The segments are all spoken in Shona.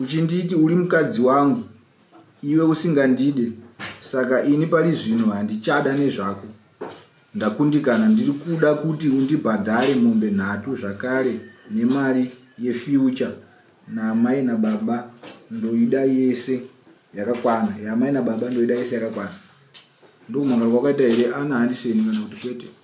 Uchinditi uri mukadzi wangu iwe usingandide saka ini pari zvino handichada nezvako. Ndakundikana ndiri kuda kuti undibhadhare mombe nhatu zvakare nemari yefuture naamai nababa ndoida yese yakakwana yaamai nababa ndoida yese yakakwana. Ndokumangarwa kwakaita here ana handiseni kana kuti kwete.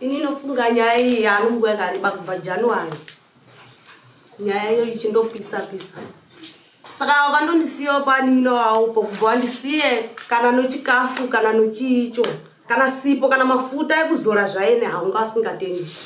Ini nofunga nyaya iyi yaari nguva yakareba kubva January. Nyaya iyo ichindopisa pisa. Saka wakandondisiyawo panino waupo kubva wandisiye kana nochikafu kana nochiicho kana sipo kana mafuta ekuzora zvaine haunga asingatendi.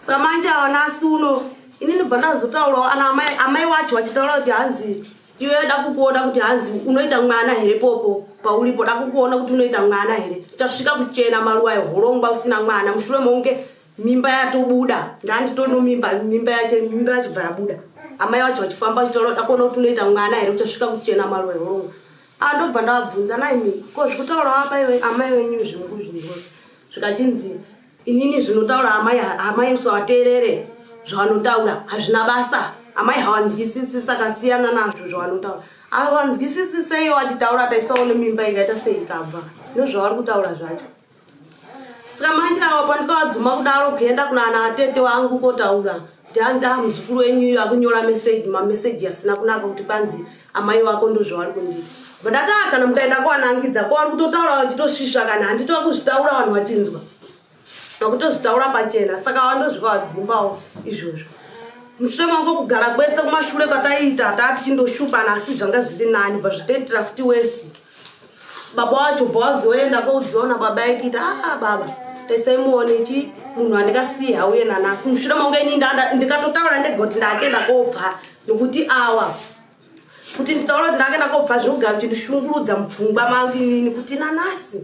Saka manje awana asi uno ini ndibva ndazotaurawo ana amai amai wacho vachitaura kuti hanzi iwe yoda kukuona kuti hanzi unoita mwana here popo paulipo da kukuona kuti unoita mwana here tichasvika kuchena maruwa ehorongwa usina mwana mushure mounge mimba yatobuda ndanditono mimba mimba yache mimba yacho bva yabuda amai vacho vachifamba vachitaura kuti akuona kuti unoita mwana here uchasvika kuchena maruwa ehorongwa a ndobva ndavabvunza naimi ko zvekutaura wapa iwe amai venyu zvingu zvinhu zvose zvikachinzi inini zvinotaura amai amai usawateerere zvavanotaura hazvina basa amai hawanzwisisi saka siyana nazvo zvavanotaura hawanzwisisi seiyo achitaura taisaone mimba ikaita sei ikabva ndozvavari kutaura zvacho saka manje ava pandikawadzuma kudaro kuenda kunana atete wangu kotaura Tanzi ah muzukuru wenyu iyo akunyora message ma message asina kunaka kuti panzi amai wako ndozvavari kundiita. Vandati ah kana mukaenda kwanangidza ko vari kutotaura vachitosvisva kana handiti vakuzvitaura vanhu vachinzwa. Vakutozvitaura pachena saka vandozvika vadzimbawo izvozvo. Mushure mangu kugara kwese kumashure kwataiita tati chindoshupana asi zvanga zviri nani bva zvitoitira futi wesi. baba wacho bva wazoenda koudziona baba aikita a ah, baba tesaimuone chi munhu andikasiyi hauye nanasi mushure maunge ini ndikatotaura ndegoti ndakenda kobva nokuti awa kuti nditaura kuti ndakenda kobva zvekugara kuchindishungurudza mupfungwa mangu inini kuti nanasi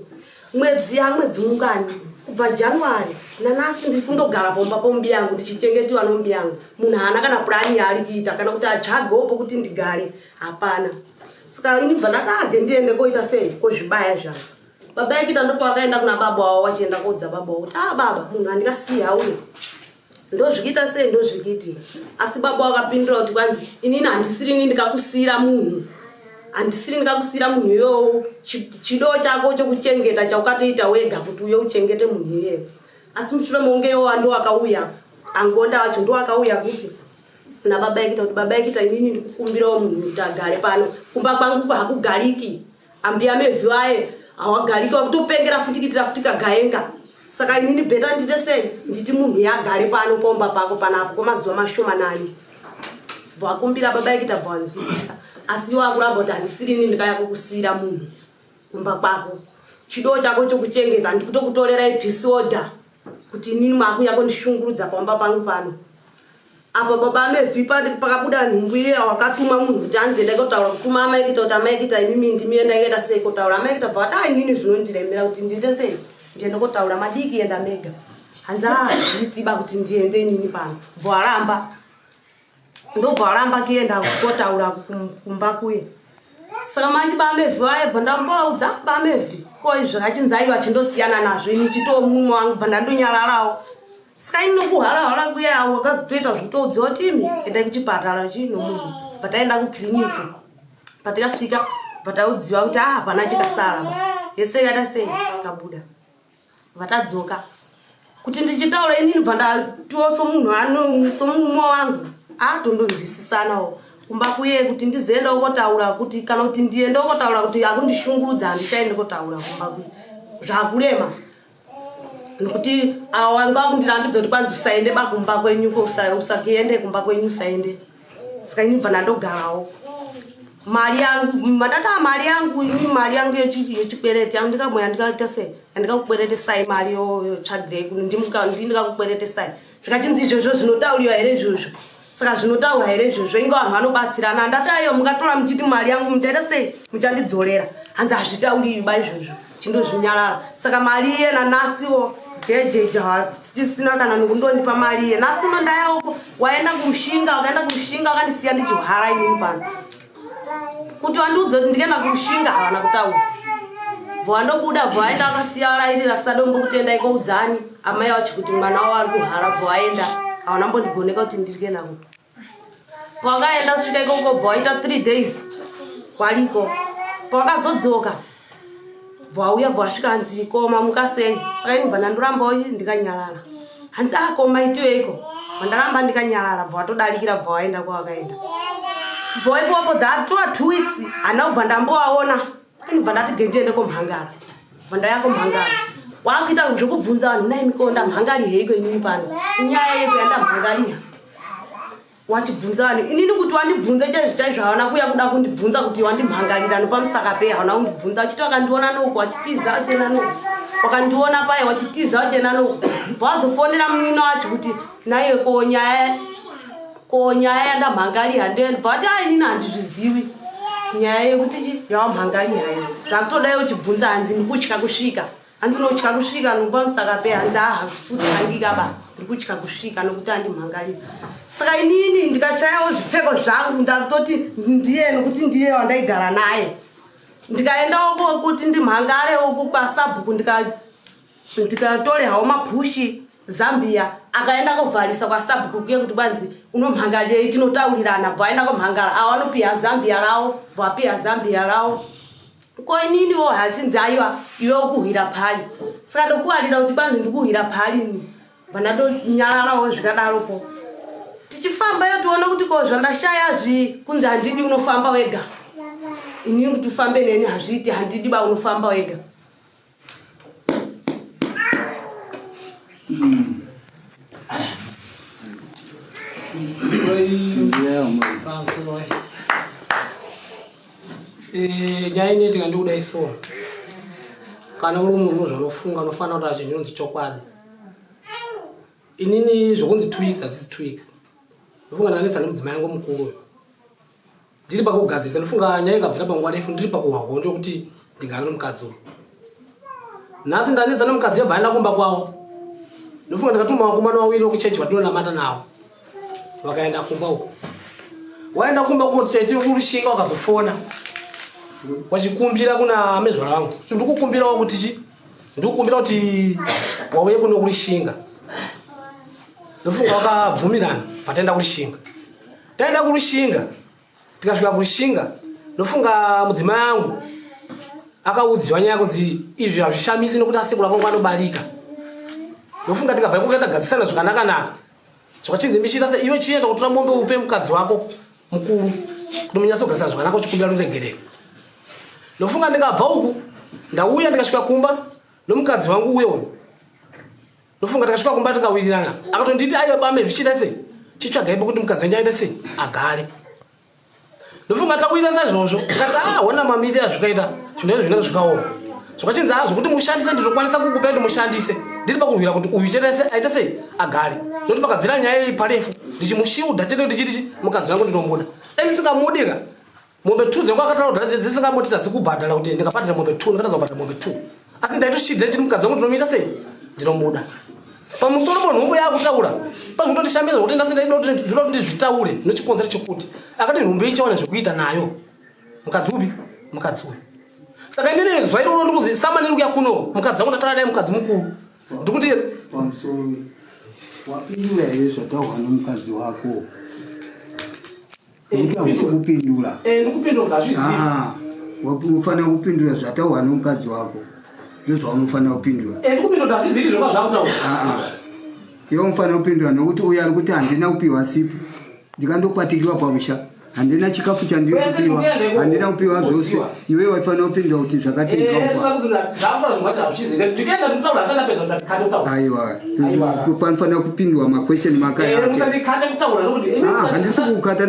mwedzi yamwedzi mungani kubva january nanasi ndiri kundogara pomba pombi yangu ndichichengetiwa nombi yangu munhu haana kana purani yaari kuita kana kuti atsvagewo pokuti ndigare hapana saka ini bva ndakade ndiende koita sei kozvibaya zvavo baba yake tandopa vakaenda kuna baba wavo vachienda koudza baba wavo kuti a ah, baba munhu andikasiya uyo ndozvikita sei ndozvikiti asi baba wakapindura kuti kwanzi inini handisiri ini ndikakusiyira munhu handisiri ndikakusiyira munhu iyowo chido chako chokuchengeta chaukatoita wega kuti uye uchengete munhu iyeyo asi mushure mounge iyowo ndo wakauya angonda wacho ndo wakauya kupi kuna baba yekita kuti baba yekita inini ndikukumbirawo munhu kuti agare pano kumba kwangu hakugariki ambuya mevhi vaye hawagariki wakutopengera futi kitira futi kagaenga saka inini bheta ndite sei nditi munhu yagare pano paumba pako panapo kwamazuva mashoma nani bvakumbira baba yekita bvawanzwisisa asi iwo akuramba kuti handisiri ini ndikaya kukusiyira munhu kumba kwako chido chako chokuchengeta ndikutokutorera ipisi order kuti inini makuya kundishungurudza pamba pangu pano apa baba amevhi pakabuda nhumbu iye wakatuma munhu kuti anzi enda kotaura kutuma amai kuita kuti amai kuita imimi ndimi enda kuenda sei kotaura amai kuita bvakati a inini zvinondiremera kuti ndiite sei ndiende kotaura madiki enda mega hanzi a ah, nditiba kuti ndiende inini pano bvo aramba ndobva varamba kuenda kotaura kumba kuye saka manje bamevhi vaye bva ndambovaudza bamevhi ko izvo achinzaiva achindosiyana nazvo ini chitoo mumwe wangu bva ndandonyararawo saka ini nokuharahara kuye avo vakazotoita zvitoudziwa kuti imi endai kuchipatara chii nomunhu bva taenda kukiriniki bva tikasvika bva taudziwa kuti ah hapana chikasara yese yata sei kabuda vatadzoka kuti ndichitaura inini bva ndatiwo somunhu ano somumwe wangu atondonzwisisanawo kumba kuye kuti ndizoenda ukotaura kuti kana kuti ndiende ukotaura kuti akundishungurudza handichaende kotaura kumba kuye zvakurema nokuti awanga akundirambidza kuti kwanzi usaende bakumba kwenyu usakuende kumba kwenyu usaende saka ini bva ndandogarawo mari yangu mandataa mari yangu ini mari yangu yechikwereti yangu ndikamoya ndikaita sei yandikakukweretesai mari yotsvagirei kuno ndi ndikakukweretesai zvikachinzi izvozvo zvinotauriwa here izvozvo saka zvinotaurwa here izvozvo inge vanhu vanobatsirana ndataiyo mungatora muchiti mari yangu muchaita sei muchandidzorera hanzi hazvitauriwi ba izvozvo chindozvinyarara saka mari iye nanasiwo jejeje hatisina kana nokundondipa mari iye nasi uno ndayauko waenda kurushinga wakaenda kurushinga wakandisiya ndichihara inini pano kuti wandiudza kuti ndikaenda kurushinga havana kutaura bvo wandobuda bvo aenda akasiya arairira sadombo kutenda ikoudzani amai wachi kuti mwana wavo ari kuhara bvo aenda hawana mbondigoneka kuti ndirike nako pawakaenda kusvika ikoko bva waita three days kwaliko pawakazodzoka bva wauya bva wasvika hanzi koma muka sei saka ini bva ndandorambawo ndikanyarara hanzi a ah, koma itiweiko vandaramba ndikanyarara bva watodarikira bva waenda kwawakaenda bva waipopo dzatova two weeks hana kubva ndambowaona inibva ndati gendiende komhangara vandaya komhangara wakuita zvekubvunza vanhu nai miko ndamhangari heiko inini pano inyaya yeko yandamhangaria wachibvunza vanhu inini kuti wandibvunze chaizvo chaizvo havana kuya kuda kundibvunza kuti wandimhangarira nopamusaka pei havana kundibvunza wachiti wakandiona noko wachitiza wachena noko wakandiona paye wachitiza wachena noko wazofonera munino wacho kuti naiwe ko nyaya ko nyaya yandamhangaliha ndeyanibva vati a inini handizvizivi nyaya yekuti chi yawamhangaliha ini zvakutodayo uchibvunza hanzi ndikutya kusvika hanzi unotya kusvika nokuva musaka pe hanzi aha kusutangikaba ndiri kutya kusvika nokuti andimhangalira saka inini ndikachayawo zvipfeko zvangu ndakutoti ndiye nokuti ndiye wandaigara naye ndikaendawo kuti ndimhangarewo kukwa sabhuku ndika ndikatore hawo maphushi zambia akaenda kovharisa kwasabhuku kuye kuti kwanzi unomhangarirei tinotaurirana bva aenda komhangara awo anopiha zambia rawo bva apiha zambia rawo ko ininiwo hachinzi aiwa iwe ukuhwira phali saka ndokuwarira kuti kwanzi ndikuhwira phali ni bva ndatonyararawo zvikadaro ko tichifamba yo tiona kuti ko zvandashaya zvi kunzi handidi unofamba wega inini kuti ufambe neni hazviiti handidi ba unofamba wega chainetika ndikudai so kana uri munhu zvanofunga anofanira kuti acho zvinonzi chokwadi inini zvokunzi two weeks hadzisi two weeks ndofunga ndakanetsa nemudzimai yangu mukuru uyo ndiri pakugadzirisa ndofunga nyaya ikabvira panguva refu ndiri pakuhwa hondo yokuti ndingave nomukadzi uyu nhasi ndanetsa nomukadzi yabva aenda kumba kwavo ndofunga ndakatuma vakomana wawiri wokuchechi vatinonamata navo vakaenda kumba uko waenda kumba kuti chaiti urushinga wakazofona wachikumbira kuna amezvara vangu so ndikukumbirawo kuti chi ndikukumbira kuti wauye kuno kurishinga ndofunga wakabvumirana vataenda kurishinga taenda kurushinga tikasvika kurushinga ndofunga mudzimai angu akaudziwa nyaya kunzi izvi hazvishamisi nokuti asekura kwangu anobarika ndofunga tikabva kuka tagadzisana zvakanaka naka zvakachinzi mishira se iwe chienda kutora mombe upe mukadzi wako mukuru kuti munyatsogadzisana zvakanaka uchikumbira ruregerero ndofunga ndikabva uku ndauya ndikasvika kumba nomukadzi wangu uye uyu ndofunga takasvika kumba tikawirirana akatonditi aiwa bame zvichiita sei chitsvagai pokuti mukadzi wenyu aita sei agare ndofunga takuita saizvozvo tikati a ah, hona mamiri azvikaita zvinhu izvo zvinenge zvikaoma zvakachinzi a ah, zvokuti mushandise ndizokwanisa kukupa kuti mushandise ndiri pakurwira kuti uyu chetese aita sei agare ndokuti pakabvira nyaya iyi parefu ndichimushiudha chete kuti chiti mukadzi wangu ndinombuda enisingamudika mombe two dzangu akataura kuti hadzi dzisingamoti tadzi kubhadhara kuti ndikabhadhara mombe two ndikatadza kubhadhara mombe two asi ndaitoshidha ndiri mukadzi wangu ndinomuita sei ndinomuda pamusoro po nhumbu yaakutaura pazvinototishambiza kuti ndasi ndaida kuti ndinoda kuti ndizvitaure nochikonzero chekuti akati nhumbu ichawana zvekuita nayo mukadzi upi mukadzi uyu saka inene zuva iroro ndikuzi samani rikuya kuno mukadzi wangu ndatara dai mukadzi mukuru ndikuti wapindura here zvataurwa nomukadzi wako nekuti hausi kupindura eh, ndikupindura ngazvizive ah, unofanira kupindura zvataurwa nomukadzi wako ndozvaunofanira kupindura eh, ndikupindura ngazvizive zvoka zvakutaura iwe ah, unofanira kupindura nokuti uyo ari kuti handina kupiwa sipo ndikandokwatikirwa pamusha handina chikafu chandiri kupiwa handina kupiwa zvose iwe waifanira kupindura kuti zvakatizvakaiwapanofanira kupindura maquestion makahandisi kukata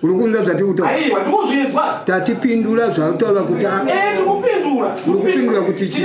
uri kunza zvati kutaura tatipindura zvautaura kuti uri kupindura kuti chii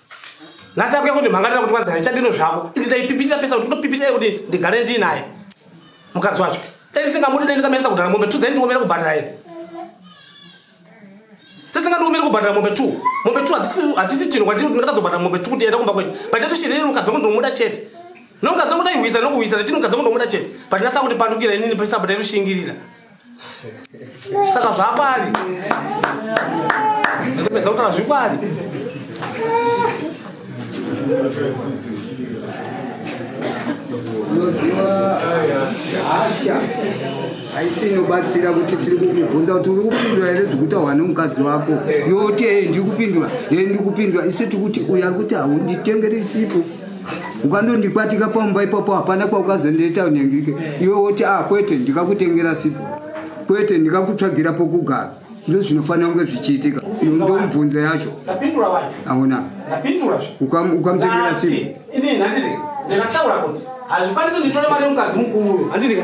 nhasi akuya kundimhangatira kuti kwanzani chadino zvako indi ndaipipirira pesa kuti ndopipirira kuti ndigare ndiinaye mukadzi wacho dai ndisingamudi dai ndingameresa kudhara mombe two dai ndiomere kubhadhara ini sesingandiomere kubhadhara mombe two mombe two hachisi chinhu kwandiri kuti ndingatadzobhadhara mombe two kuti enda kumba kwenyu but ndatoshirire mukadzi wako ndomuda chete nokadzi wako ndaihwisa nokuhwisa ndachini mukadzi wako ndomuda chete but ndasava kundipandukira inini pesabda itoshingirira saka zvakwari ndopedza kutaura zvikwari unoziva hasha haisi inobatsira kuti tiri kukubvunza kuti uri kupindura here zvekutaurwa nemukadzi wako yoti ee ndiri kupindura ee ndiri kupindura isi tikuti uyo ari kuti haunditengeri sipo ukandondikwatika pamba ipapo hapana kwaukazondiita unengike iwe woti a ah, kwete ndikakutengera sipo kwete ndikakutsvagira pokugara ndo zvinofanira kunge zvichiitika ndomubvunzo yacho aona ukamutengera sipo hazvikwanisi nditora mari yemukadzi mukuru handidika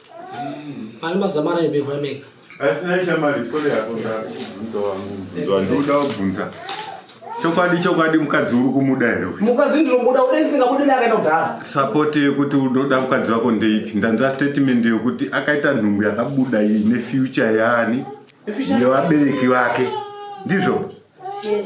Ani mazuva mana yobirwa mega. Asina shamari sore yako ndakubvunza wangu. Ndoda kubvunza. Chokwadi chokwadi mukadzi uri kumuda here? Mukadzi ndinomuda ude ndisingabudi naye akaenda kudhara. Support yekuti unoda mukadzi wako ndeipi? Ndanza statement yekuti akaita nhumbu yakabuda iyi ne future yaani? Yevabereki vake. Ndizvo? Yes.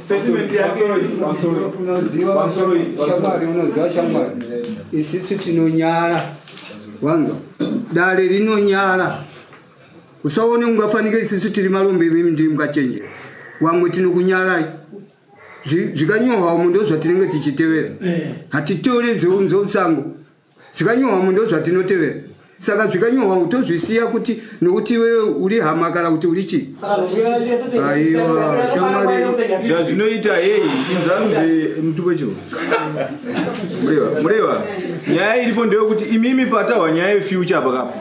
shamwari unoziva shamwari isisu tinonyara wanzwa dare rinonyara usaone ungafanike isisu tiri malombe imimi ndiri mukachenjera wamwe tinokunyarai zvikanyohwa umu ndozvatinenge tichitevera eh. hatitore zveunzousango zvikanyohwamo ndozvatinotevera saka zvikanyohwamo tozvisiya kuti nokuti iwewe uri hama kana kuti uri chii aiwa shamwari zvazvinoita heyi inzanzi muti wecho mureva mureva nyaya iripo ndeyokuti imimi patahwa nyaya yefuture apa kapo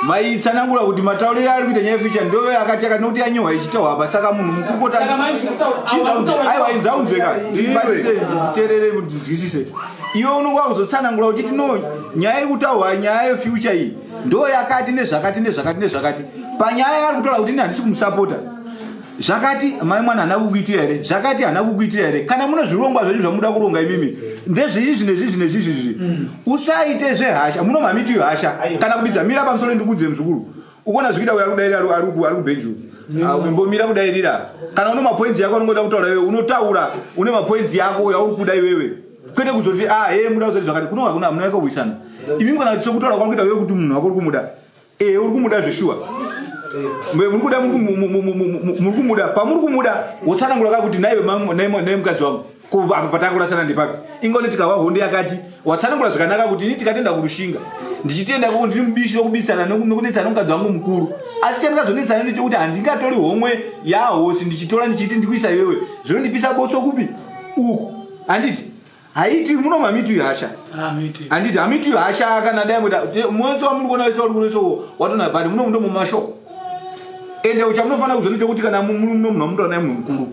maitsanangura kuti matauriro ari kuita nyaya yefuture ndoyo akati akati nokuti yanyohwa ichitahwa apa saka munhu mukuru kota aiwa inzaunzweka nditerere ndinzwisise iwe unonge wakuzotsanangura uchiti no nyaya iri kutaurwa nyaya yefuture iyi ndo yakati nezvakati nezvakati nezvakati panyaya yaari kutaura kuti ini handisi kumusapota zvakati mai mwana hana kukuitira here zvakati hana kukuitira here kana mune zvirongwa zvenyu zvamuda kuronga imimi ndezvizvi nezvizvi nezvizvi zvi usaite zvehasha munomamitiyo hasha kana kubidza mira pamusoro ndikuudzire muzukuru ukona zvikuita uyo arikudairira arikubenju ah, umbomira kudairira kana une mapoinzi yako anongoda kutaura iwewe unotaura une mapoinzi yako yauri kuda iwewe kwete kuzoti a ah, he muda kuzoti zvakati kuno hakuna hamuna yaka kuwisana imimi kana sokutaura kwari kuita iwewe kuti munhu wako uri kumuda ee eh, uri kumuda zveshuwa muri kuda muri kumuda pamuri kumuda wotsanangura ka kuti naiwe mukadzi wangu kuva apo patakurasana ndepapi ingoni tikahwa hondo yakati watsanangura zvakanaka kuti ini tikatenda kurushinga ndichitenda kuti ndiri mubishi wekubitsana nekunetsana mukadzi wangu mukuru asi chandingazonetsana ndechekuti handingatori homwe yahosi ndichitora ndichiti ndikuisa iwewe zvinondipisa botso kupi uku handiti haiti muno mamitu ihasha handiti hamitu ihasha kana dai mweta mwese wamuri kuona wese wari kunoisa watona bani muno muno mumashoko ende uchamunofanira kuzonochekuti kana muno muno munomutora naye munhu mukuru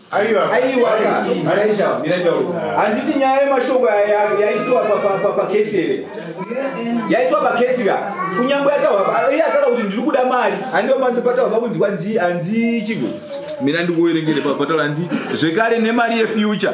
handiti nyaya yemashoko yaisiwa pakesi here yaisiwa pakesi ka kunyange iye akada kuti ndiri kuda mari handipataura pakunzwa nzi hanzi chigo mira ndikuerengere pataura nzi zvekare nemari yefuture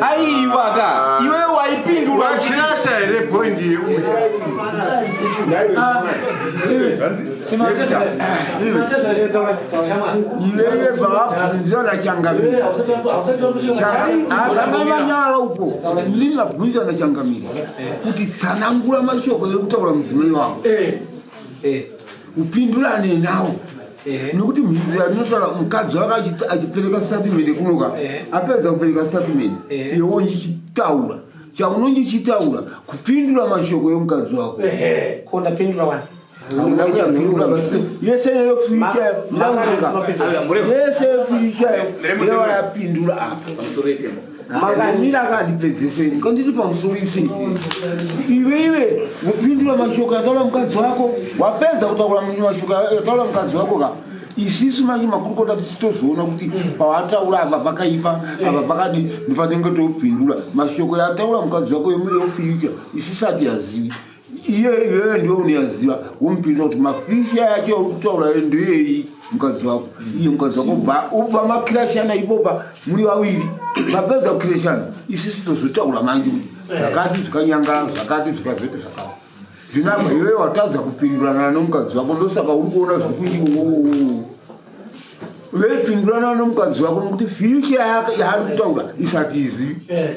aiwa ka iwe waipindura wachirasha here point yeuya iweye bvaabvunzwa nachangamiri akanga manyara uko ndini vabvunzwa nachangamiri kuti tsanangura mashoko ekutaura mudzimai wavo eh, eh. upindurane nawo eh. nokuti mhindura ndinotaura mukadzi waka achipereka statement kunoka eh. apedza kupereka statement eh. iwo ndichitaura chaunonge uchitaura kupindura mashoko yomukadzi wako ko ndapindura wani yese yofishayo yese yofishayo yewayapindura apa makamira akandipedzesei kanditi pamusoro isei iwe iwe kupindura mashoko yataura mukadzi wako wapedza kutaura mashoko yataura mukadzi wako ka isisu manje makurukota tisitozoona kuti pawataura apa pakaipa apa pakadi ndifanenge topindura mashoko yataura mukadzi wako yemufiricha isisati yazivi iye iyoyo ndiwe unoyaziva womupindura kuti makisha yake uri kutaura yo ndoyeyi mukadzi wako iye mukadzi wako ba uba makirashana ipopa muri vaviri mapedza kukirashana isisi tozotaura manje kuti zvakati zvikanyangaa zvakati zvikazoita zvakati zvinapa iyoyo watadza kupindurana nomukadzi wako ndosaka uri kuona zvekuti oo veipindurana nomukadzi wako nokuti fyucha yaari kutaura isati izivi eh.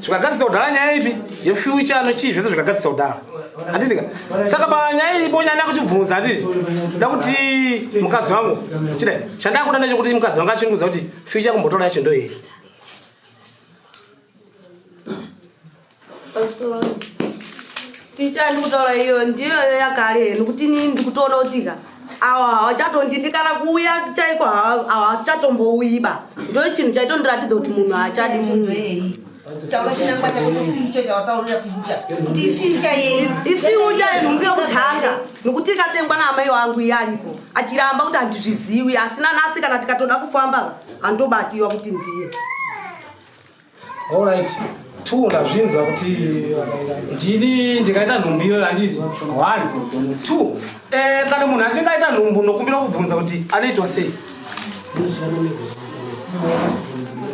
zvikagadzisa kudhara nyaya ipi yefuture anochii zvese zvikagadzisa kudhara handitika saka panyaya iripo nyaya ndakutibvunza handiti da kuti mukadzi wangu chida chandakuda ndechekuti mukadzi wangu achindiudza kuti future kumbotora yacho ndoyei Ticha ndikutaura iyo ndiyoyo yakare henu kuti ini ndikutoona kuti ka awa hawachatondidi kana kuuya chaiko hawachatombouyiba ndo chinhu chaitondiratidza kuti munhu haachadi munhu ifiucha yenhumbi yokutanga nokuti ikatengwa naamai wangu iye aripo achiramba kuti handizviziwi asina nasi kana tikatoda kufamba handobatiwa kuti ndiye All right. two ndazvinzwa kuti ndini ndikaita nhumbu iyoyo handiti one two eh, kana munhu achinge aita nhumbu nokumbira kubvunza kuti anoitwa sei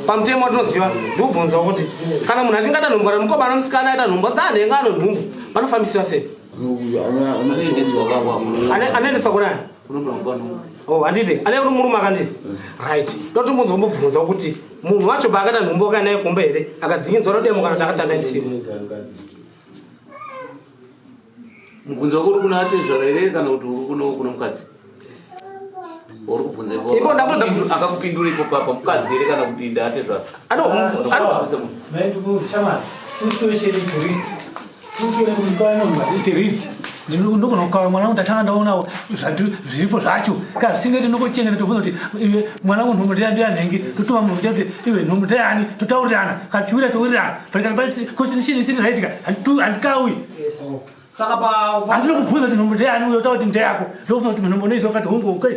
pamutemo tinoziva zviubvunzwa kuti kana munhu achinge aita nhumbu kana mukoma anomusikana aita nhumbu dzaanhenga anonhumbu vanofambisiwa sei anoendeswa kunani Oh, handiti ane uno murume akanditi right ndoti muzombobvunza kuti munhu wacho paakada nhumbu wakaenda naye kumba here akadzikinzwa rodemo kana kuti akatanga isimu mubvunzo wako uri kuna atezvara here kana kuti uri kuno kuna mukadzi uri kubvunza ipo akakupindura ipo papa mukadzi here kana kuti ndaatezvara ano ano ndinogona kukava mwana wangu ndatanga ndaonawo zviripo zvacho ka zvisingeti ndinongochenga nditobvunza kuti iwe mwana wangu nhumbu ndeya ndeya nhengi totuma munhu kuti iwe nhumbu ndeyani totaurirana kana tichiwira towirirana kuti ndichini isiri right ka handikawi asi ndokubvunza kuti nhumbu ndeyani uyo utaura kuti ndeyako ndokubvunza kuti nhumbu unoiziva kati hungu okay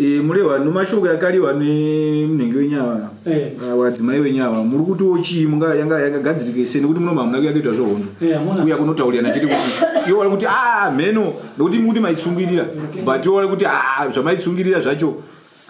Eh, mulewa nemashoko yakaliwa nemunenge wenyava Eh. ah, wadzimai wenyava muri kutiwo chii munga- yanga yakagadzirike sei nekuti muno mamuna kuyakuita zvehondo Eh, hamuna. kuya kunotauriyana chete kuti iwo wari kuti a mheno nekuti mukuti maitsungirira but iwo wari kuti a zvamaitsungirira zvacho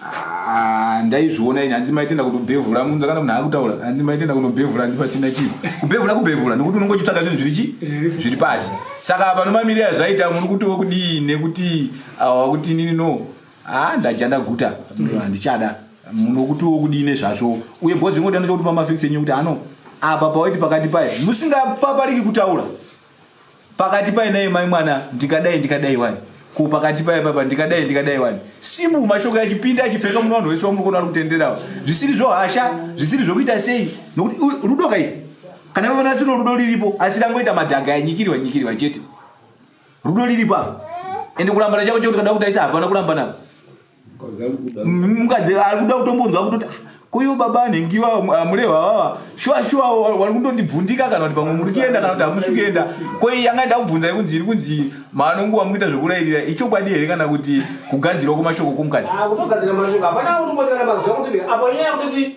ah, ndaizviona ini hanzi maitenda kunobhevhura munza kana munhu akutaura hanzi maitenda kunobhevhura hanzi pasina chinhu kubhevhura kubhevhura nekuti unongo chitsvaga zvinhu zviri chi zviri pasi saka apa nomamirira zvaiita muri kutiwo kudii nekuti awa kuti nini no haa ndadya ndaguta handichada munhu wokuti wokudii nezvazvo uye bhozi ringoda ndochokuti pamafix enyu kuti ano apa pawaiti pakati paye musingapapariki kutaura pakati paye naye mai mwana ndikadai ndikadai wani ko pakati paye papa ndikadai ndikadai wani simbu mashoko yachipinda achipfeka muno vanhu wese wamukona ari kutenderawo zvisiri zvohasha zvisiri zvokuita sei nokuti u- rudo kai kana pavanasino rudo riripo asi rangoita madhanga yanyikirwa nyikirwa chete rudo riripo apa ende kurambana chako chekuti kana kutaisa hapana kurambana apa mukadzi ari kuda kutombonzwa kutoti "Ah, koivo baba anhengiwa amulehwa vava shuwa shuwa wa- wari kundondibvundika kana kuti pamwe muri kuenda kana kuti hamusi kuenda koi yanga ida kubvunza kunzi iri kunzi mano nguva mukuita zvekurairira ichokwadi here kana kuti kugadzirwa kwemashoko kwomukadzi Ah, kutogadzira mashoko hapana kuti motikana mazuva kuti apa nyaya yekutoti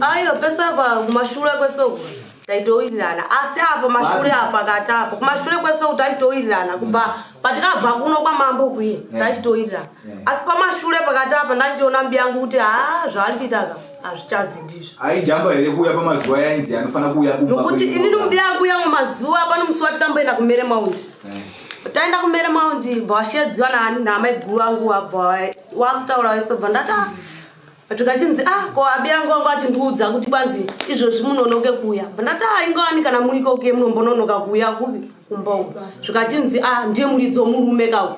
ayo pesa kumashure kwesoko taitowirirana asi apo mashure apo akati apo kumashure kwesoko taitowirirana kubva patikabva kuno kwamambo kuye taitowirirana asi pamashure pakati apa ndachiona mbiyangu kuti haa zvaari kuitaka hazvichazi ndizvo aijamba here kuuya pamazuva yainzi anofanira kuuya kumba nokuti ini nokuti akuuya mumazuva pano musi wati tamboenda kumere maundi eh. taenda kumere maundi bva washedziwa naani naamai guru vangu wabva wakutaura wese bva ndati ah. tikachinzi a ah, ko abi yangu wangu achindiudza kuti kwanzi izvozvi munonoke kuuya bva ndati a ah, ingawani kana muri ikoke munombononoka kuuya kupi kumba uku zvikachinzi a ndiye muridzo murume kau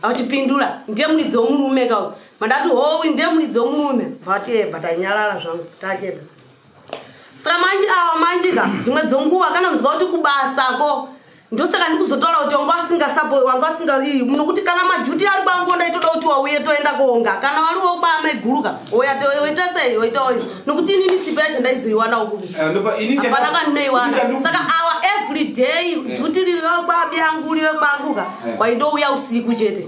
achipindura ndiye muridzo murume kau mandati howi ndemuni dzomurume vateba tanyarara zvangu tacheda saka manji awa manji ka dzimwe dzonguva kana kunzwa kuti kubasa ko ndosaka ndikuzotaura kuti wanga wasingasapo wanga wasingaii muno kuti kana majuti ari kwangu ndaitoda kuti wauye toenda koonga kana wari wokwame guru ka oya oita sei oita oyo nokuti inini sipa yacho ndaizoiwanawo kuapana eh, kandinoiwana saka awa every day eh. juti riri vekwabi yangu uri vekwangu ka eh. waindouya usiku chete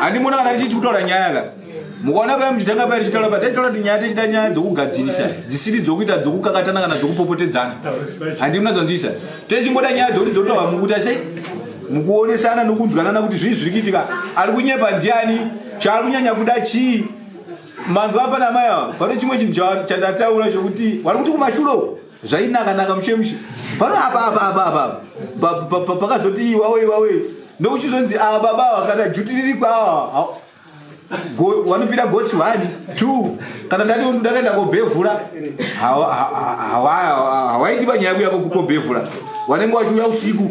handimona kana tichiti kutaura nyaya ka mukaona paya muchitanga paya tichitaura paya taitaura kuti nyaya tichida nyaya dzokugadzirisa dzisiri dzokuita dzokukakatana kana dzokupopotedzana handimuna dzonzisa techingoda nyaya dzokuti dzotaurwa mukuita sei mukuonesana nokunzwanana kuti zvii zviri kuitika ari kunyepa ndiani chaari kunyanya kuda chii manzwa apa namai ava pane chimwe chinhu chandataura chokuti vari kuti kumashuro zvainaka naka mushe mushe pano apa apa apa apa pa- pa- pa- pakazoti iwawe iwawe ndokuchizonzi ava baba ava kana juti riri kwawa ha- go- wanopira gotsi one two kana ndati undu ndakaenda kobhevhura hawa- ha- ha- hawa- hawaiti panyaya kuya kokobhevhura wanenge wachiuya usiku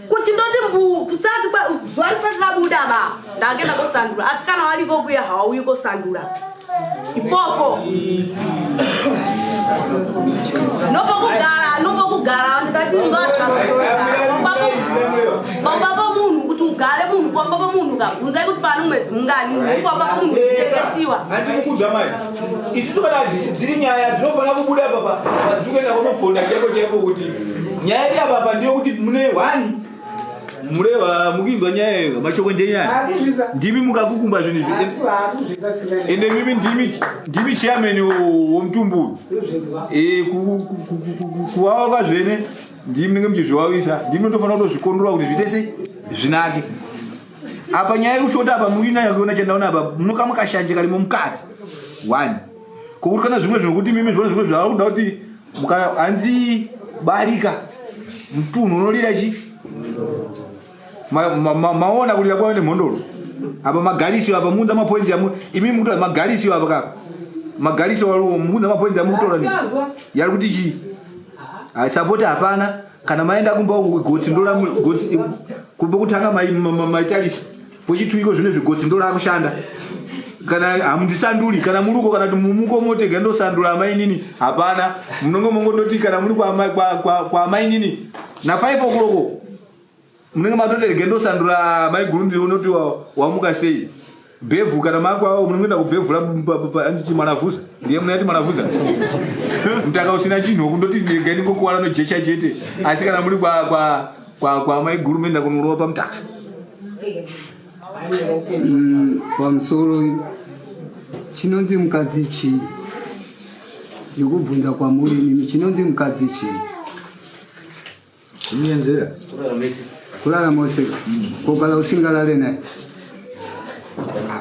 kuti ndoti mbuu kusati zuva risati labuda ba ndange ndakosandura asi kana wari ikoku ya hawauyi kosandura ipoko nopokugara nopokugara ndikati pamba pomunhu kuti ugare munhu pamba pomunhu kabvunzai kuti pano mwedzi mungani pamba pomunhu uchichengetsiwa isusu kana dziri nyaya dzinofanira kubuda papa padziri kuenda kunobvonda chaipo chaipo kuti nyaya iri apapa ndiyo kuti mune one mureva mukinzwa nyaya iyo mashoko ndenyaya ndimi mukakukumba zvinhu izvi ende mimi ndimi ndimi chairman womutumbu uyu kuwawa kwazvene ndimi nenge muchizvivavisa ndimi ndotofanira kutozvikondora kuti zviite sei zvinake apa nyaya iri kushota apa muri kunyanya kuona chandaona apa munoka mukashanje karimo mukati one kokutikana zvimwe zvinokuti mimi zvona zvimwe zvava kuda kuti hanzi barika mtunhu unolira chi maona kulira kwave nemhondoro apa magalisiyo apa muunza mapoinzi yamu imi mukutora magalisiyo apa kaka magalisiyo muunza mapoinzi yamukutora yari kuti chii sapoti hapana kana maenda kumba gotsi ndolamgotsi kumba kutanga maitarisa kwechituiko zvine zvigotsi ndolakushanda kana hamundisanduri kana muri uko kana kuti mumuko motega ndosandura amainini hapana munonge mongondoti kana muri kwaamainini na 5 okloko munenge matoti rege ndosandura maiguru ndione kuti wamuka sei bhevhu kana makwao munongoenda kubhevhura anditi mwanavhuza ndiye munati mwanavhuza mtaka usina chinhu kundoti rega ndingokuwana nojecha chete asi kana muri kwamaiguru moenda kunorova pamtaka mm, pamusoro chinonzi mukadzi chii ndikubvunza kwamuri mimi chinonzi mukadzi chii Umienzera. Kulala mese. Kulala mose. Kokala usingalale naye.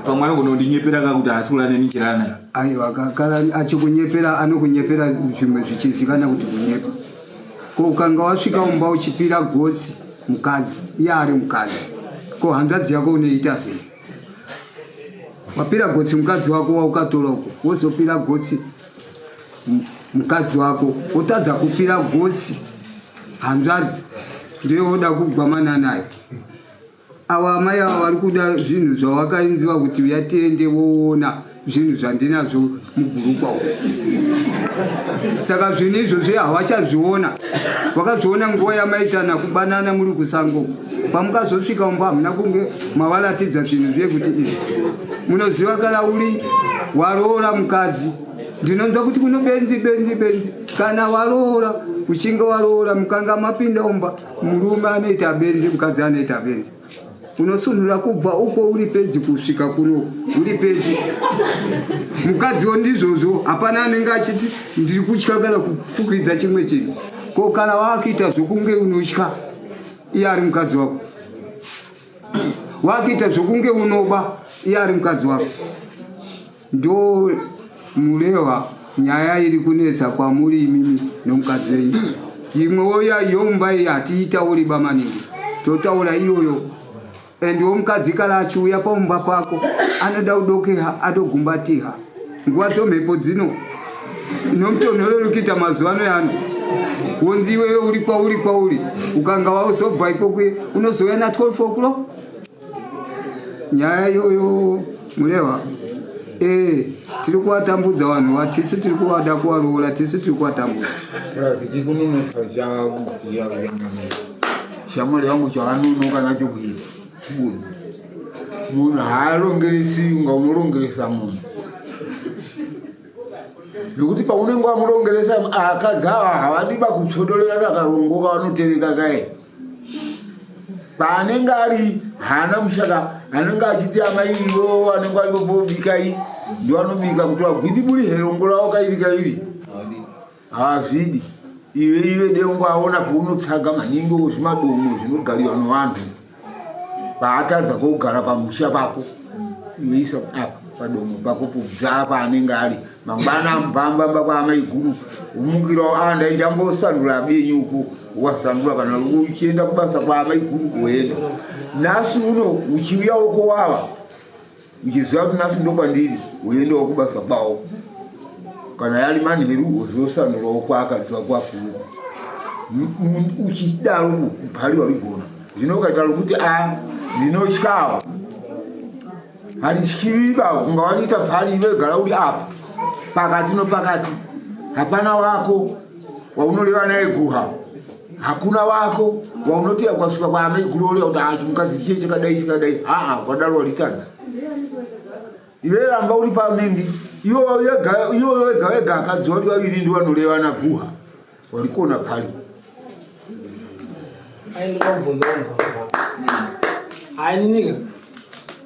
Pamwana kunondinyepera ka kuti haasi kulala neni chirana naye. Aiwa kakala achikunyepera anokunyepera zvimwe zvichizikana kuti kunyepa. Ko ukanga wasvika umba uchipira gotsi mukadzi iye ari mukadzi. Ko hanzvadzi yako unoita sei? Wapira gotsi mukadzi wako waukatora uko wozopira gotsi mukadzi wako otadza kupira gosi hanzvadzi ndoyovoda kugwamana nayo ava amai ava vari kuda zvinhu zvawakainziva kuti uya tiende woona zvinhu zvandinazvo mugurukwa u saka zvinhu izvozvi hawachazviona wakazviona nguva yamaitana kubanana muri kusango pamukazosvika umba hamuna kunge mavaratidza zvinhu zviye kuti izvi munoziva kana uri waroora mukadzi ndinonzwa kuti kuno benzi benzi benzi kana waroora uchinge waroora mukanga mapinda umba murume anoita benzi mukadzi anoita benzi unosunhura kubva uko uri pedzi kusvika kuno uri pedzi mukadziwo ndizvozvo hapana anenge achiti ndiri kutya kana kufukidza chimwe chinhu ko kana waakuita zvokunge unotya iye ari mukadzi wako wakuita zvokunge unoba iye ari mukadzi wako ndo murehwa nyaya iri kunetsa kwamuri imimi nomukadzi wenyu imwe woya yomba iyi hatiitauri ba maningi totaura iyoyo and womukadzi kala achiuya paumba pako anoda kudokeha adogumbatiha nguva dzomhepo dzino nomutonhorero kuita mazuva ano yano wonzi iwewe uri kwauri kwauri ukanga wauzobva ikokwe unozouya na 12 o'clock nyaya iyoyo mureva ee tiri kuvatambudza vanhu vatisi tiri kuvada kuvaroora tisi tiri kuvatambudza shamwari yangu chavanunoka nacho kuita munhu munhu haarongeresi unga unorongeresa munhu nekuti paunenge wamurongeresa akadzi ava havadi vakutsodorera rakarongoka vanotereka kae paanenge ari haana mushaka anenge achiti amai ivo anenge aivobika i ndiwanobika kuti wagwidiburi herongo ravo kairi kairi Hazvidi iwe iwe dengo aona paunotsvaga maningi zvimadomo zvinogariwa nevanhu paatadza kogara pamusha pako iweisa apa padomo pako pobvaa paanenge ari mangwana amubambamba kwaamai guru umukirawo a ah, ndaichambosanura abenyu uko wasanura kana uchienda kubasa kwaamai guru kuenda nhasi uno uchiuya wokowava uchiziva kuti nhasi ndokwandiri woendawo kubasa kwawo kana yari manheru wozosanurawo kwaakaziva kwafuru uchidaro kumbari warigona zvino ukaita rokuti a ah, ndinotyawo handityivi bavo kunga waniita pari ive gara uri apa pakati nopakati hapana wako waunoreva naye guha hakuna wako waunotiya kwasvika kwaamai kuroorera kuti haa chimukadzi chiye chakadai chakadai haa kwadaro walitadza iwe ramba uri pamendi iwoyo wega wega akadzi wari vaviri ndi vanoreva na guha wari kuona pali ainininga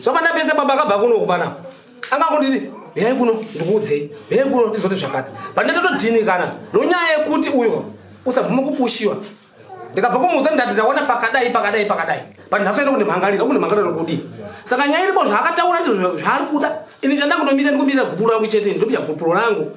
Zvakanda pese baba akabva kuno kubana. Anga kunditi yai kuno ndikuudzei. Yai kuno ndizote zvakati. Bana totodhinikana nonyaya yekuti uyo usabvume kupushiwa. Ndikabva kumuudza ndati ndaona pakadai pakadai pakadai. Bana hasoenda kune mhangarira kune mhangarira kudii. Saka nyaya iripo zvaakataura ndizvo zvaari kuda. Ini chandanga kunomira ndikumirira gupuro rangu chete ndopya gupuro rangu.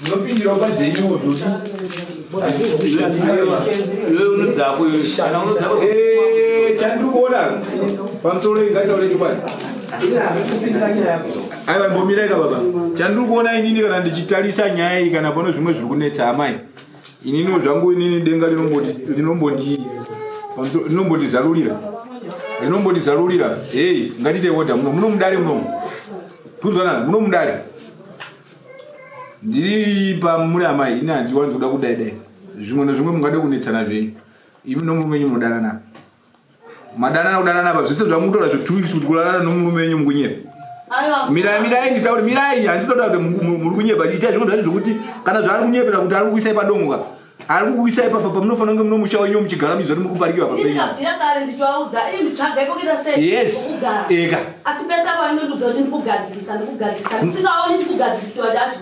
Ndinopindirawo pajenyu kuti iwe unodzako iwe kana unodzako eh chandikuona pamusoro ingataure chokwadi aiwa mbomiraika baba chandiri kuona inini kana ndichitarisa nyaya iyi kana pano zvimwe zviri kunetsa amai ininiwo zvangu inini denga rinombondi- rinombondi- pamusoro- rinombondizarurira rinombondizarurira hei ngatiite oda muno muno mudare munomu tunzwanana muno mudare ndiri pamuri amai ini handiwanzi kuda kudai dai zvimwe nezvimwe mungade kunetsana zvenyu imi nomurume wenyu munodanana madanana kudanana pa zvese zvamukutora zve two weeks kuti kudanana nomurume wenyu mukunyepa mirai mirai nditauri mirai handisi kutoda kuti muri kunyepa itai zvimwe zvacho zvokuti kana zvaari kunyepera kuti ari kukuisai padongo ka ari kukuisa ipapa pamunofanira kunge munomusha wenyu muchigara muchiziva kuti muri kuparikiwa papenyueka asi pese apo anondiudza kuti ndikugadzirisa ndikugadzirisa ndisingaoni ndikugadzirisiwa ndacho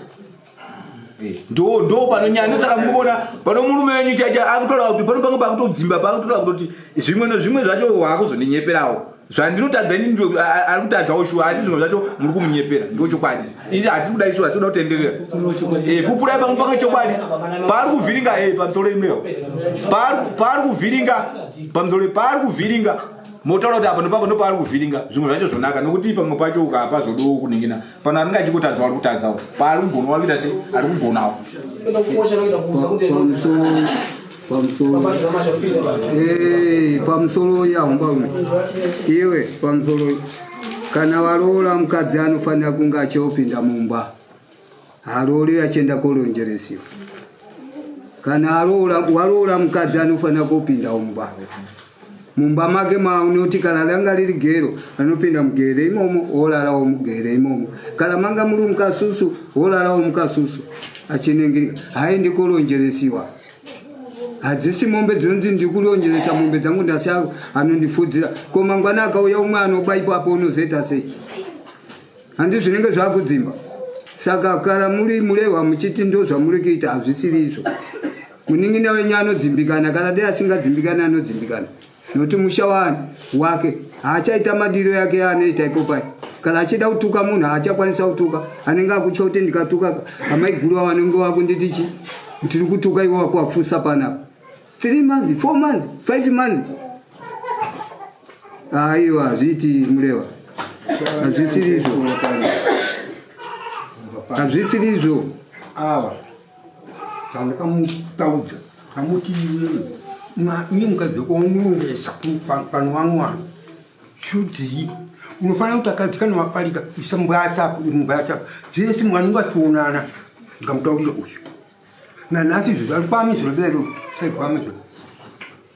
eh, ndo ndo panonyaya ndosaka munoona pano murume wenyu chacha akutorawa kuti pano pange pakutodzimba pakutorawa kutoti zvimwe nezvimwe zvacho waakuzondinyeperawo zvandinotadza ini ndo ari kutadzawo shuwa asi zvinhu zvacho muri kumunyepera ndo chokwadi ini hatisi kuda isu hatisi kutenderera eh, pupurai pangu panga chokwadi paari kuvhiringa e eh, pamusoro imeo paari kuvhiringa pamusoro paari kuvhiringa motaura kuti apa nopapa ndopaari kuvhiringa zvimwe zvacho zvonaka nokuti pamwe pacho ukapa zodowo kuningina pano anenge achikutadzawo ari kutadzawo paari kugonawo ari kuita sei ari kugonawo pamusoro pamusoro yahomba ume iwe pamusoro kana varoora mukadzi anofanira kunge achiopinda mumba haroori achienda koronjeresiwa kana waroora mukadzi anofanira kopinda mumba mumba make maunoti kana ranga riri gero anopinda mugere imomo wolarawo mugere imomo kana manga muri mukasusu wolarawo mukasusu achiningirika haendi koronjeresiwa hadzisi mombe dzinonzi ndikurionjeresa mombe dzangu ndasiya anondifudzira ko mangwana akauya umwe anoba ipapo unozoita sei handi zvinenge zvakudzimba saka kana muri murehwa muchiti ndo zvamuri kuita hazvisiri izvo munin'ina wenyu anodzimbikana kana dei asingadzimbikani anodzimbikana nokuti musha waani wake haachaita madiro yake yaanoita ipopai kana achida kutuka munhu haachakwanisa kutuka anenge akutya kuti ndikatuka amaiguru va vanenge vakunditi chi tiri kutuka ivo vakuvafusa panapa three months four months five months aiwa hazviiti mureva hazvisirizvo hazvisirizvo awa Tandakamutaudza kamuti ini mukadzi wako unorongesa pano wamwana chudii unofanira kuti akadzi kana waparika isa mbwaya chako imbwaya chako zvese mwana unge achionana ndikamutaurira uyu nanhasi izvozvo ari kwamizviro lero saikwamizviro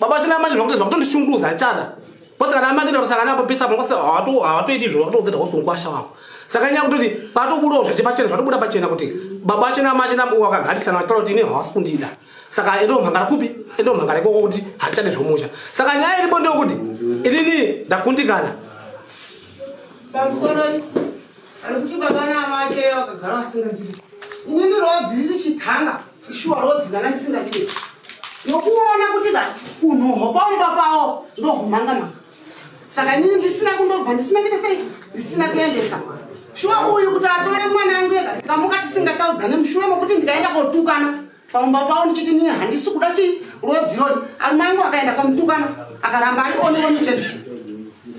baba vachina manje zvakuti zvakutondishungurudza hachana kwose kana manje ndakusangana apo pesa pangose hawatoiti izvo vakutoudzeta hose mukwasha wako saka nyaya kutoti patobudawo zvache pachena zvatobuda pachena kuti baba vachina manje nabwakagarisana vachitaura kuti ine hawasi kundida saka endomhangara kupi endomhangara ikoko kuti hatichade zvomusha saka nyaya iripo ndeyokuti inini ndakundikana pamusoro ari kuti baba naamacheyo vakagara vasingandiri inini rodziri richitanga Shuwa rodzi ndanga ndisingadiwe. Nokuona kuti ka unhoho pamba pawo ndohumanga manga. Saka inini ndisina kundobva ndisina kuita sei ndisina kuendesa. Shuwa uyu kuti atore mwana yangu yega ndikamuka tisingataudzane mushure mokuti ndikaenda kotukana pamba pawo ndichiti nini handisi kuda chii rodzi rori arume angu akaenda komutukana akaramba ari one one chete.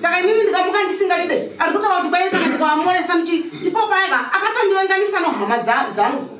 Saka inini ndikamuka ndisingadide ari kutaura kuti kwairi kana ndikawamoresa ndichi ipo paye ka akatondivenganisa nohama dza- dzangu.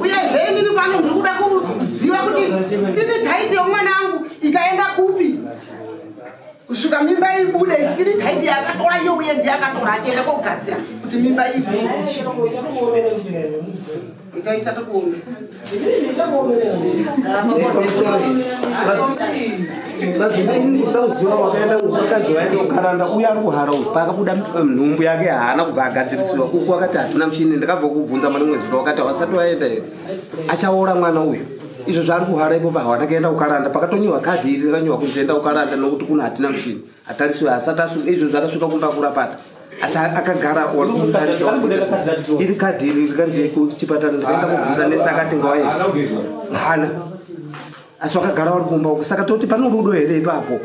uyezve inini pano ndiri kuda kuziva kuti skini taiti yomwana angu ikaenda kupi kusvika mimba ibude isikiri taiti yakatora iyo uye ndi yakatora achienda kogadzira kuti mimba ibude itaita tokuona uya ari kuhara uyu paakabuda nhumbu yake haana kubva agadzirisiwa uku akati hatina mushini ndakabva kubvunza mwana mwedzi to wakati hawasati waenda here achaora mwana uyu izvo zvaari kuhara ipo pahawana kaenda kukaranda pakatonyiwa kadhi iri rakanyiwa kunzi enda kukaranda nokuti kuno hatina mushini atariswe asati asunga izvo zvakasvika kumba kurapata asi akagara iri kadhi iri rikanzi kuchipatara ndikaenda kubvunza nese akati ngwaye hana asi wakagara wari kumba uku saka toti pane rudo here ipapo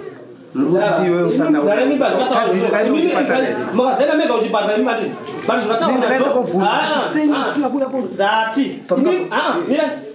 mrutitiweusaaa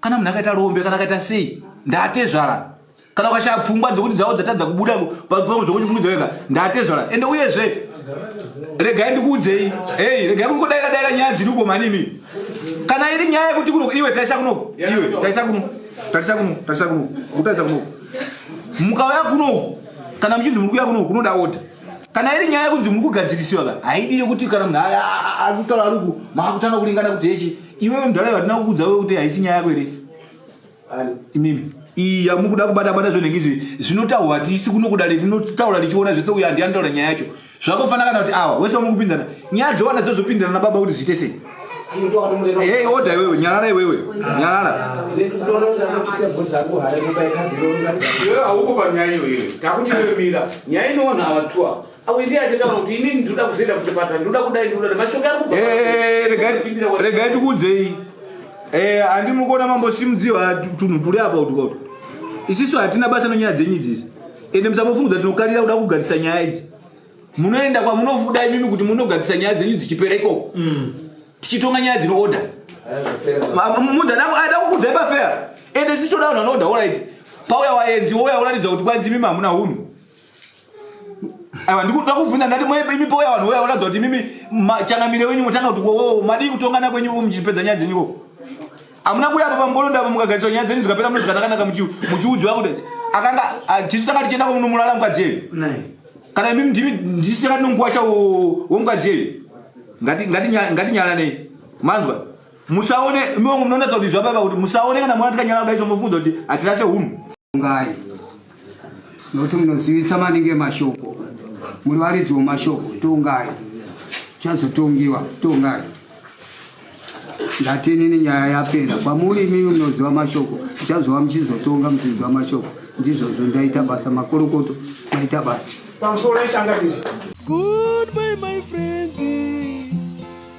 kana munhu akaita rombe kana akaita sei ndatezvara kana ukashaya pfungwa dzokuti dzavo dzatadza kubuda zvokuchifungidzo wega ndatezvara ende uyezve regai ndikuudzei hei regai kungodaira daira nyaya dziri uko manini kana iri nyaya yekuti kuno iwe tarisa kuno iwe tarisa kuno tarisa kuno tarisa kuno kutaridza kuno mukauya kuno kana muchinzi muri kuya kuno kunoda oda kana iri nyaya yekunzi muri kugadzirisiwa ka haidi yekuti kana munhu akutaura ariku makutanga kulingana kuti hechi iwewe mudhara vatina kukuudza we kuti haisi nyaya yako iri imimi iya mukuda kubata bata zvenenge izvi zvinotaurwa hatisi kuno kudare rinotaura richiona zvese uyo handi anotaura nyaya yacho zvakofana kana kuti awa wese wamukupinzana nyaya dzowana dzozopindirana nababa kuti zviite sei hei oda iwewe nyarara iwewe nyarara iwewe hauko panyaya iyoyo takuti iwe mira nyaya inoona ava two ava regai tikuudzei eh, handi mukuona mambosimudziwa tunhu tuli apa kuti kuti isisu hatina basa nonyaya dzenyu idzisi ende musambofungudza tinokarira kuda kugadzisa nyaya idzi munoenda kwamunofuda imimi kuti munogadzisa nyaya dzenyu dzichipera ikoko mm. tichitonga nyaya dzinooda mudhanako aida kukudzai pafea ende sisi toda vanhu vanoda orit pauya waenzi wouya uratidza kuti kwanzi imimi hamuna hunhu Aiwa ndikuda kubvunza ndati mwe imi pauya vanhu vouya voratidza kuti imimi changamire wenyu motanga kuti wowo madii kutongana kwenyu muchipedza nyaya dzenyu ko hamuna kuuya apa pambolonda apa mukagariswa nyaya dzenyu dzikapera muno zvikanakanaka muchiudzwa kuti akanga ah, tisu tanga tichienda kwamunomulala mukadzi yeyu kana imimi ndimi ndisu tanga tinonguwasha womukadzi yeyu ngatinyalanei manzwa musaone imiwangu munoonatsa kuti izwa paipa kuti musaone kana mwana tikanyala kudai somofunza kuti hatirase hunhu nokuti munozivisa maningi mashoko muri varidzi wemashoko tongai chazotongiwa tongai ndati inini nyaya yapera kwamuri imimi munoziva mashoko muchazova muchizotonga muchiziva mashoko ndizvozvo ndaita basa makorokoto maita basa Goodbye, my friends.